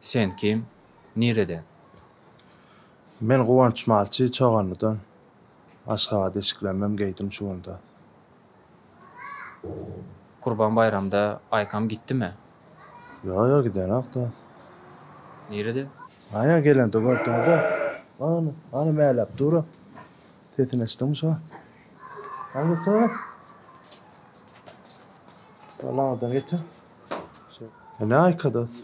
Sen kim? Nireden? Men Guwanç malçy, Çoganlydan. Aşgabat eşiklenmem geýdim şu günde. Gurban baýramda Aýkam gitdimi? Ýok, ýok, gidenok, dost. Nirede? Aýa gelende gördiň-dä. Ana, ana mäläp dur-a. Sesini eşitdiňmi şo? Hany getir ony. Ol aňyrdan getir. Ene aýka dos.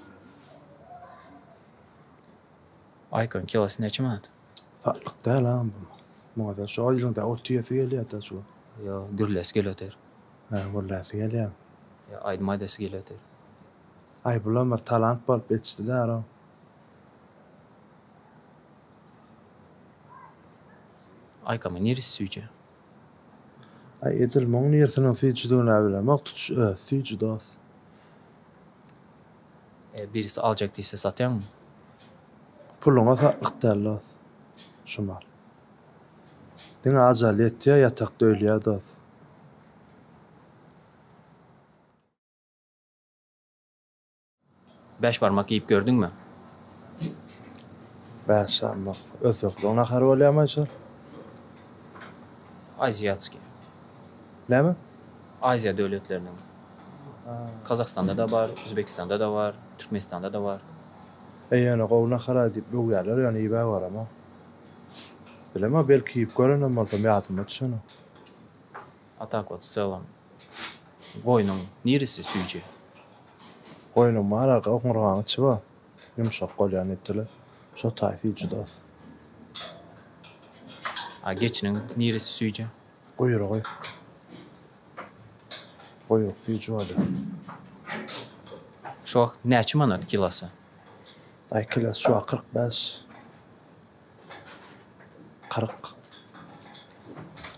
Aýkyň kilosy näçe manat? Satlyk däl a bu. Muňada şo ýylyň-da ot iýesi gelýär-de şu. Ýo, gürläsi gelýodir. Hä, gürläsi gelýär. Ýa aýdym aýdasy gelýodir. Aýbulam bir talant bolup ýetişdi-dä-row. Aýkamyň niresi süýji? Aý edil muň nirsiniň süýjüdigine bilemok tutuş özi süýji dos. Eger birisi aljak diýse satýaňmy? Puluňa satlyk däl dos şu mal. Diňe ajal ýetýär ýatakda ölýär dos. Bäş barmak iýip gördüňmi? Bäş barmak. Özbekleň nahary bolýarmy şo? Aziatskiý. Näme? Aziýa döwletleriniň. Kazahstanda-da bar, Uzbekistanda-da bar, Türkmenistanda-da bar. E, ýöne gowy nahar-a diýip öwýärler, ýöne iýibä göremok. Bilemok, belki iýip görenem bolsam, ýadyma düşenok. A tak wot, w çelam, goýnuň niresi süýji? Goýnuma alar oňurgaňy çyba ýumşak bolýar netele şo taýfi judas. A geçiniň niresi süýji? Guýrugy. Guýruk süýji bolýar. Şu wagt näçe manat kilosy? Daýy kilosy şu wagt kyrk bäş. Kyrk.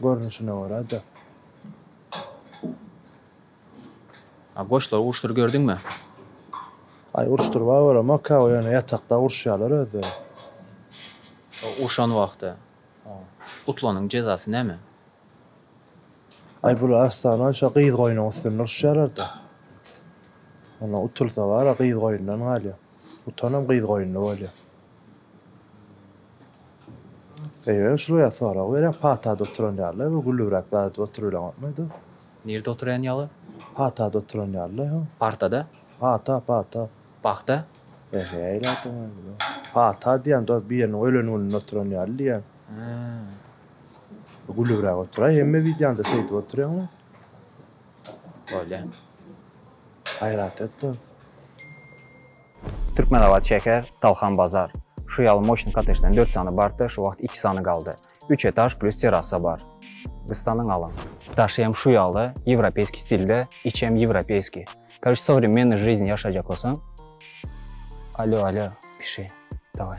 Görnüşine görä-de. A goşlary uruşdyr gördüňmi? Aý uruşdyrba göremok ka ýöne ýatakda uruşýalar özleri. O urşan wagty. Utlanyň jezasy näme? Aý bular aslana şo gyz goýnuň üstünde uruşýalarda. Onda utulsa bara gyz goýundan galýa. Utanam gyz goýunly bolýa. Eýýäm şul ýa sorag berýän patada oturan ýaly bu gülübräp zat edip oturybileňokmy ýa-da. Nirde oturýan ýaly? Patada oturan ýaly-la ýa. Partada? Pata, pata. Pagta? Ehe, eýle aýdýan ýaly-la. Pata diýýän, dost, biriniň ölen gününde oturan ýaly diýýän. Hä. Gülübräk otur-aý, hemme wideoňda şeýdip oturýaň-la. Bolýa. Gaýrat et, dost. Türkmenabat şäher, Talhan bazar. Şu ýaly moşny kottejden dört sany bardy, şu wagt iki sany galdy. Üç etaž plýus terrasa bar. Gystanyň alyň. Daşy hem şu ýaly, ýewropeýskiý stilde, içi hem ýewropeýskiý. Karoçe sowremennoý žizn ýaşajak bolsaň. Alýo, alýo, pişi, daway.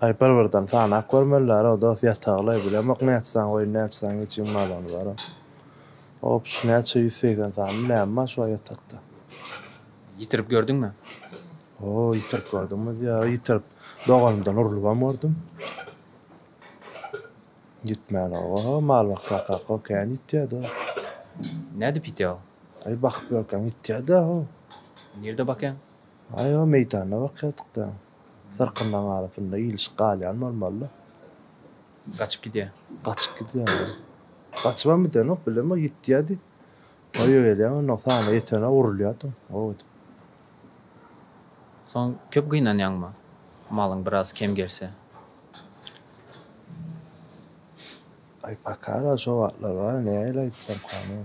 Aý bir birden sanap görmelileroo dos ýatagly bilemok näçesaň goýun näçesaň geçiň malony baram. Hop şu näçe ýüz segsen sany näme bar şo ýatakda. Ýitirip gördüňmi? Hoo ýitirip gördüňmi diýýär ýitirip doganymdan urlubam gördüm. Ýitmänoga ho mal bakarkak ho kän ýitýä dos. Nädip ýitýä o? Aý bakyp ýörkäň ýitýä-dä ho. Nirde bakýaň? Aýwa, meýdanda bakýardyk-da. Syrkyndan galyp indi ilişip galýan bolmaly-da. Gaçyp gidýä. Gaçyp gidýä. Gaçybam gidenok, bilemok, ýitýä diýip. Öýe gelýän onnoň saýyna ýetene urulýardyň, goh edip. Soň köp gynanýaňmy, malyň biraz kem gelse? Aý, paka-da, şo wagtlar bar, nähili aýtsaň, kän.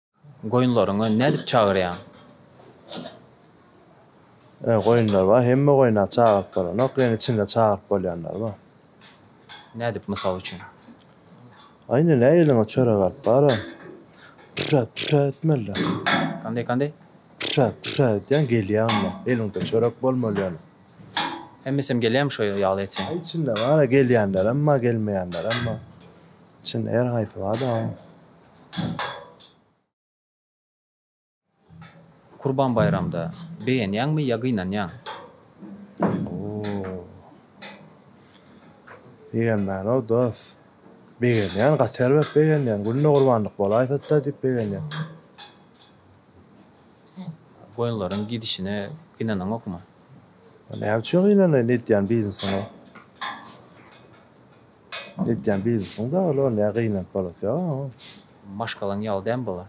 Goýunlaryňy nädip çagyrýaň? Öň goýunlar bar, hemme goýuna çagyryp bolanok, ýöne içinde çagyryp bolýanlary bar. Nädip, mysal üçin? Aý nine, eliňe çörek alyp bara, püssäp püssäp etmelidir. Kanday, kanday? Püssäp püssäp edýäň, gelýäňmi? Eliňde çörek bolmaly ýöne. Hemmesem gelýärmi şo ýaly etseň? Içinde bar-a, gelýänlerem bar, gelmeýänlerem bar. Içinde her haýsy bar-da. Kurban baýramda begenýäňmi ýa gynanýaň? Begenmän-ow dos. Begenýän, gaty erbet begenýän. Günde gurbanlyk bolaýsada diýip begenýän. Goýunlaryň gidişine gynanaňokmy? Näme üçin gynanaýyn edýän biznesiňe? Edýän biznesiň dogry ol ne gynanyp bolasy ýok oň. Maşgalaň ýaly däm bolar.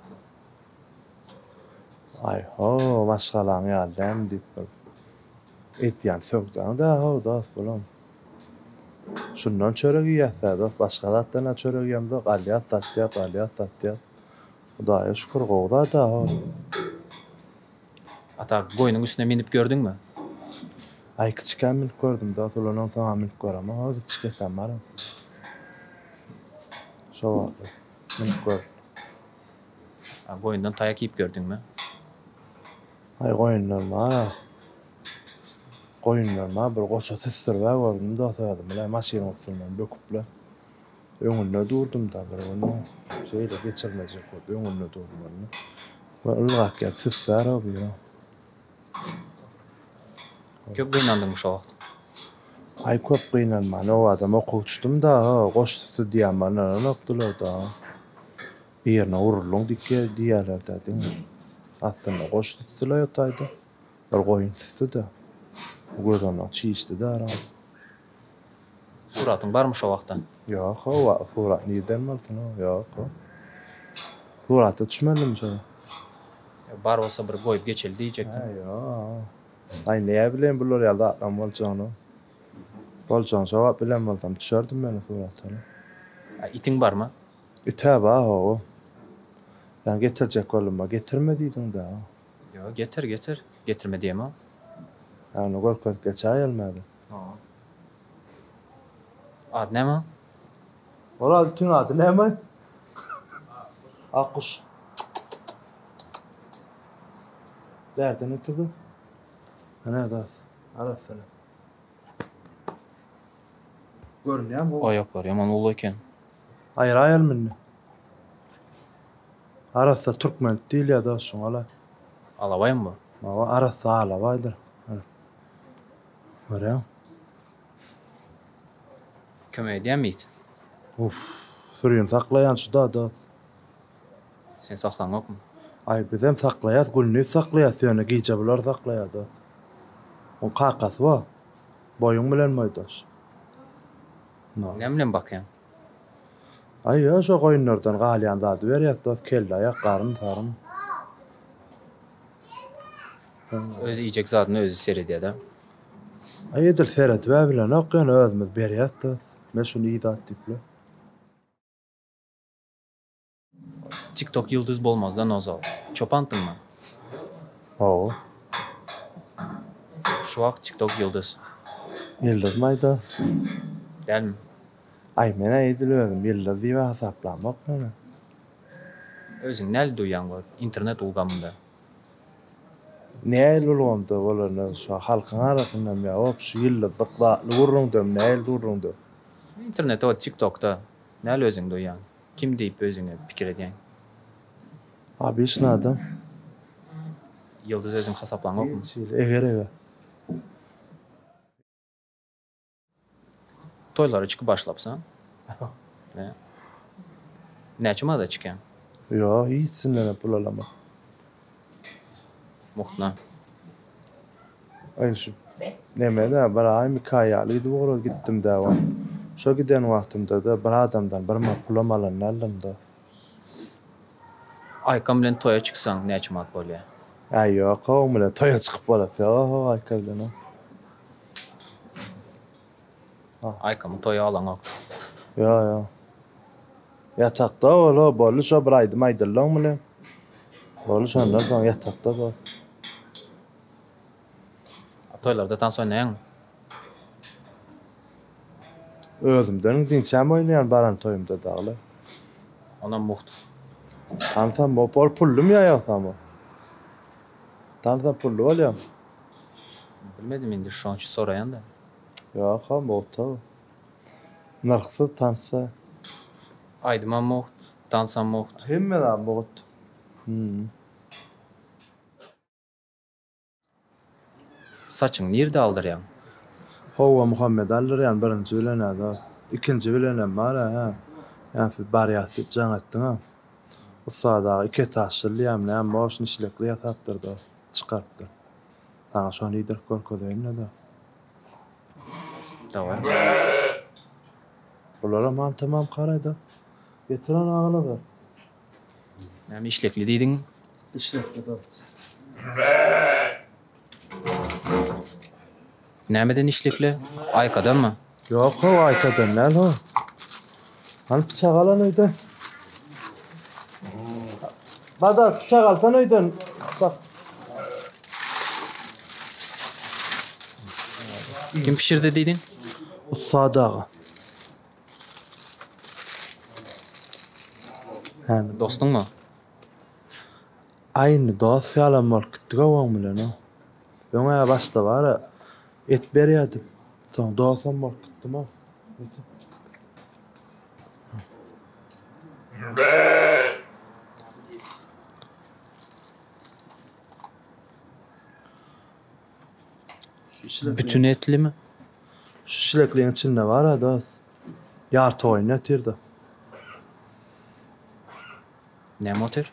Aý ho maşgalaň ýaly däm diýip bir edýän söwdaň dä ho dos bulam. Şundan çörek iýýäs dä dos başga zatdan-a çörek iýemzok alýas satýas alýas satýas. Hudaýa şükür gowy zada ho. Ata, goýnuň üstüne minip gördüňmi? Aý, kiçikäm minip gördüm, dost. Ulanam, soňam minip göremok. Hol bir çiketem bar. Şo wagt minip gördüm. A goýundan taýak iýip gördüňmi? Aý, goýundan bar. Goýundan bar. Bir goça süsdürip-ä gördüm, dost, özüm bilen maşynyň üstünden böküpler. Öňünde durdum-da, bir günde şeýle geçirmejek bolup öňünde durdum-da. Ol ylgap gelip süssär o biri. Köp gynandyňmy şo wagt? Aý, köp gynanman, owadam oka uçdum-da, goşdy stydýam bana ynykdylar-da. Birine uruldyň diýýärler-dä diňe. Aslynda goşdy stdyla ýotaýda, bir goýun stdy-da. Gözognak çişdi-dä araň. Suratyň barmy şo wagta? Ýok o wagt surat nirden bolsun o ýok o. Surata düşmedim şo. Ýa bar bolsa bir goýup geçeli diýjekdim. Hä ýok. Aý näme bileýin bular ýaly zatlaryň boljagyny. Boljagyny şo wagt bilen bolsam düşerdim men o surata. A itiň barmy? It-ä bar hawa. Ýa getirjek boldum-a getirme diýdiň-dä. Ýo getir getir. Getirme diýemok. Ýa ony görkezip geçäýelim häzir. Ady näme? Ol altyň ady näme? Akguş. Bärden oturdy. Hana das. Ara salam. Görünýärmi bu? Aýaklary ýaman uly eken. Aýraýalmy indi? Arassa türkmen diýilýär da şuňala. Alabaýmy bu? Hawa, arassa alabaýdyr. Görýäň. Kömek edýän mit. Uff. Sürini saklaýan şu da dos. Sen saklaň ýokmy. Aý bizem saklaýas gündiz saklaýas ýöne gije bular saklaýa dos. Oň kakasy bo. Boýuň bilen boýdaş. Näme bilen bakýaň. Aýa şo goýunlardan galýan zady berýäs dos kelle aýak garyn saryn. Öz iýjek zadyna özi seredýada. Aý edil seredibä bilenok ýöne özümiz berýäs dos. Men şuny iý zat diýipler. Tiktok ýyldyz bolmazda nozal. Çopan tmmy? Hawa. Şu wagt tiktok ýyldyz. Ýyldyz maýda. Dälmi? Aý menä edil özüm ýyldyz diýibä hasaplamok ýöne. Özüň näli duýýaň bu internet ulgamynda? Nähili ulgamda bolanda şo halkyň arasyndam ýa obşi ýyldyzlyk zatly gürrüňdem nähili gürrüňde? Internetde o tiktokda näli özüň duýýaň? Kim diýip özüňe pikir edýäň? Obyçny adam. Ýyldyz özüň hasaplaňokmy? Şeýle eger eger. Toýlara çykyp başlapsyň? He. Näçe maza çykýaň? Ýok hiç kimden pul alaman. Mukna. Aý şu neme-dä, bir aýmy iki aý ýalydy bu oraz gitdim-dä wan. Şo giden wagtymda-da bir adamdan bir mat pulam alan däldim-dä. Aýkam bilen toýa çyksaň näçe manat bolýa? Äý ýok-a oň bilen toýa çykyp bolasy ýok-a Aýka bilen-a. Aýkymyň toýy alaňok. Ýo ýo. Ýatakda ol o boldy şo bir aýdym aýdyldyň bile. Boldy şondan soň ýatakda zat. Toýlarda tans oýnaýaňmy? Özümden diňçäm oýnaýan baran toýumda dagylar. Onam mugt. Tansam bop ol pullum ýa ýogsam o. Tansam pully bolýamy? Bilmedim indi şoň üçin soraýanda. Ýoka muhta nyrhsyz tansda. Aýdymam mugt, dansam mugt. Hemme zat mugt. Saçyňy nirde aldyrýaň? Howwa Muhammet aldyrýan birinji bilenä dos. Ikinji bilenem bar hä. Ýa siz barýas diýip jaň etdiňä. Ussat aga iki etaşly diýýämi näme boş nişlekli ýasapdyr dos. çykarypdyr. Saňa şony iýdirip görkezeýin-le-da. Daway. Bularam aňtamam karaýda. Getir ony agylaga. Näme işlekli diýdiň? Işlekli-de. Nämeden işlikli? Aýkadanmy? Ýok how aýkadan däl how. Hany pyçak alan öýden. Badak pyçak alsan öýden. Bak. Kim pişirdi diýdiň? Ussat aga. Hany. Dostuňmy? Aý indi dos ýalam bolup gitdiga oň bilenem. Öňä başda bara et berýärdim. Soň dosam bolup gitdimo. Netim. Bütin etlimi? Şu şilekliň içinde bara dos. Ýarty goýun ýatyrda. Näme otyr?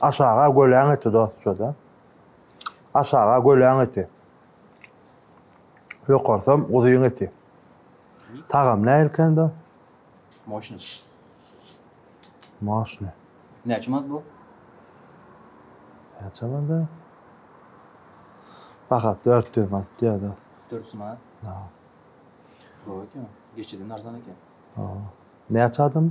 Aşaga göläň eti dostja-da. Aşaga göläň eti. Ýokarsam guzyň eti. Tagamy nähilkändä? Moşny. Moşny. Näçe manat bu? Näçe manada? Baha 400 manat diýýär-de. 400 manat? Hawa. Gowy eken. Geçiden arzan eken. Hawa. Näçe adam?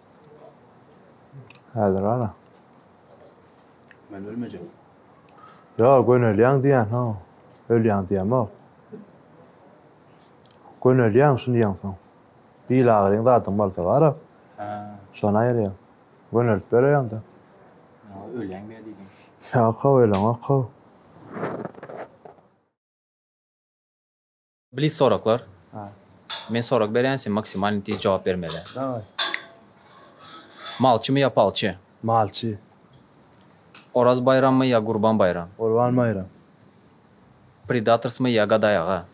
Häzir ana. Men ölmejek. Yo, gönelýäň diýýän, ho. Ölýäň diýemok. Gönelýäň şuny ýeňsoň. Bil agyryň zadyň bolsa bar-a. Hä. Şony aýyrýaň. Gönelip bereýaň-da. Ýa ölýäň be diýdim. Ýok-how, öleňok-how. Blitz soraklar. Men sorag berýän sen maksimalny tiz jogap bermeli. Daway. Malçymy ýa palçy? Malçy. Oraz baýrammy ýa Gurban baýram? Gurban baýram. Predatorsmy ýa Gaday aga?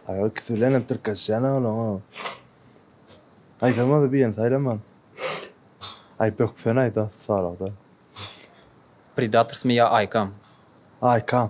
Aga ikisi bilen hem tirkeşýän a olaň o. Aýtsam bolsa birini saýlaman. Aýp ýok sen aýt a soragda. Predatorsmy ýa Aýkam? Aýkam.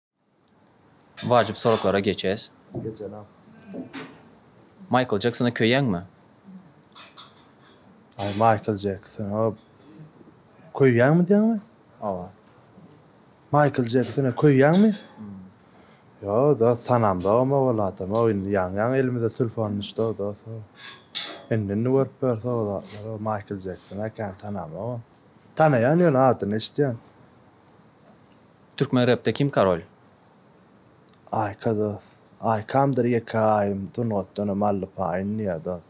Wajyp soraglara geçes. Maýkl Jeksona köýýäňmi? Aý Maýkl Jeksona köýýäňmi diýýäňmi? Hawa. Maýkl Jeksona köýýäňmi? Ýok dost tanamda omo ol adamok indi ýaňy ýaňy elimize sulfony düşdüo dost o. Indi indi görüp ýörsek o zatlar o Maýkl Jeksona kän tanamok ony. Tanaýan ýöne adyny eşitýän. Türkmen repde kim karol? Aýka dos. Aýkamdyr ýeke aýym sungatdanam aldy paýyn diýä dos.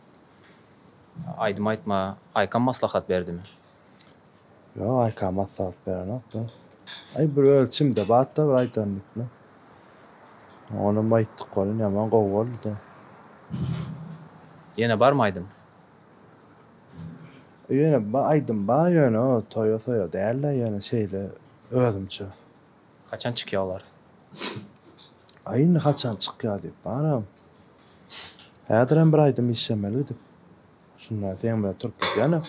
Aýdym aýtma. Aýkam maslahat berdimi? Ýok Aýka maslahat berenok dos. Aý bir öz içimde batda bir aýdandyk bilen. Onam aýtdyk welin ýaman gowy boldy dos. Ýene barmy aýdym? Ýöne bir aýdym bar ýöne o toýa soýa dälde ýöne şeýle özümçe. Haçan çykýa olar. Aý indi haçan çykýa diýip baram. Häzirem bir aýdym işlemeli gidip. Şunda seň bilen turup gidýäne.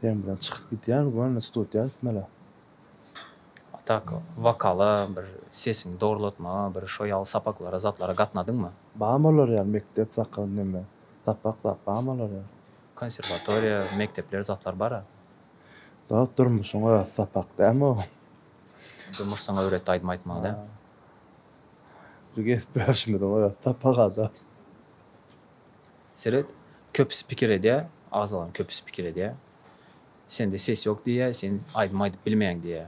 Seň bilen çykyp gidýän göni studiýa gitmeli. A tak wokala bir sesiňi dogrulatmaga bir şo ýaly sapaklara zatlara gatnadyňmy? Barmy olar ýaly mekdep sakal neme Sapaklap bam olara. Konserwatoriýa, mekdepler zatlar bara. Dost durmuşyň özi sapak dämi o. Durmuş saňa öwretdi aýdym aýtmagy dä. Bir gezip görşümiziň özi sapak ada. Seret, köpüsi pikir edýä, agzalan köpüsi pikir edýä. Sende ses ýok diýýä, sen aýdym aýdyp bilmeýäň diýýä.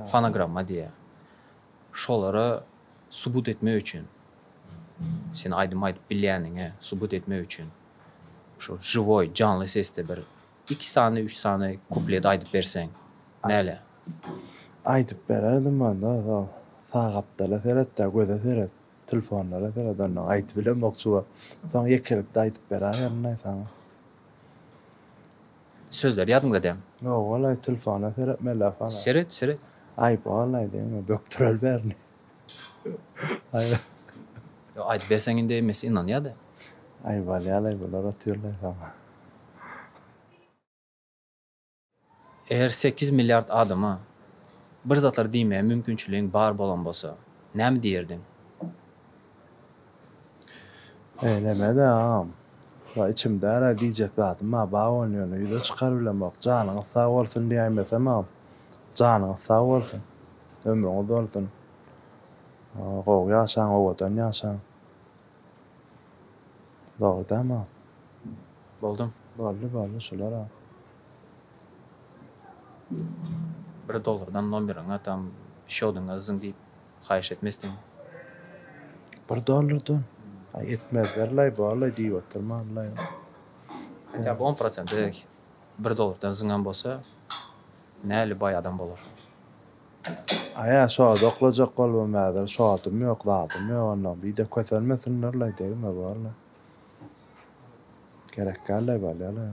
Fonogramma diýýä. Şolara subut etmek üçin, sen aýdym aýdyp bilýäniňe subut etmek üçin şu žiwoý, janly sesde bir iki sany, üç sany kuplet aýdyp berseň näle? Aýdyp bererdim onda şo sagapdala seretde göze seret tilfonlara seret onda aýdyp bilemok şu wagt soň ýekelikde aýdyp beraýerin aý saňa. Sözleri ýadyňda däm. Ýok walaý tlfona serep Mella fala. Seret seret. Aýyp walaý deme bökdürel bärini. Aýyp. Ýok aýdyp berseň indi emmesi ynanýada. Aýyp alýalaý bular otyrlaý saňa. Eger sekiz milliard adama bir zatlar diýmäge mümkinçiligiň bar bolan bolsa näme diýerdiň? Beýleme-de agam. Wa içimdära diýjek zadym bar Bawony ýöne ýüze çykaryp bilemok. Janyňyz sag bolsun diýäýmesem agam. Janyňyz sag bolsun. Ömrüňiz bolsun. Gowy ýaşaň owadan ýaşaň. Dogry dämi agam. Boldum. Boldy boldy şulara. Bir dollardan nomeriňi atam şodyňa yzyň diýip Haýyş etmesdiň. Bir dollardan. Aý etmezlerlaý borlaý diýip oturmanlaý. Hatda on prosent dek bir dollardan zyňan bolsa näli baý adam bolar. Aýa şoda oklajak bolubam häzir şodym ýok zadym ýok onda bide kösenmesinlerlaý degme borlaý. Gerek dällaý bolýalaý.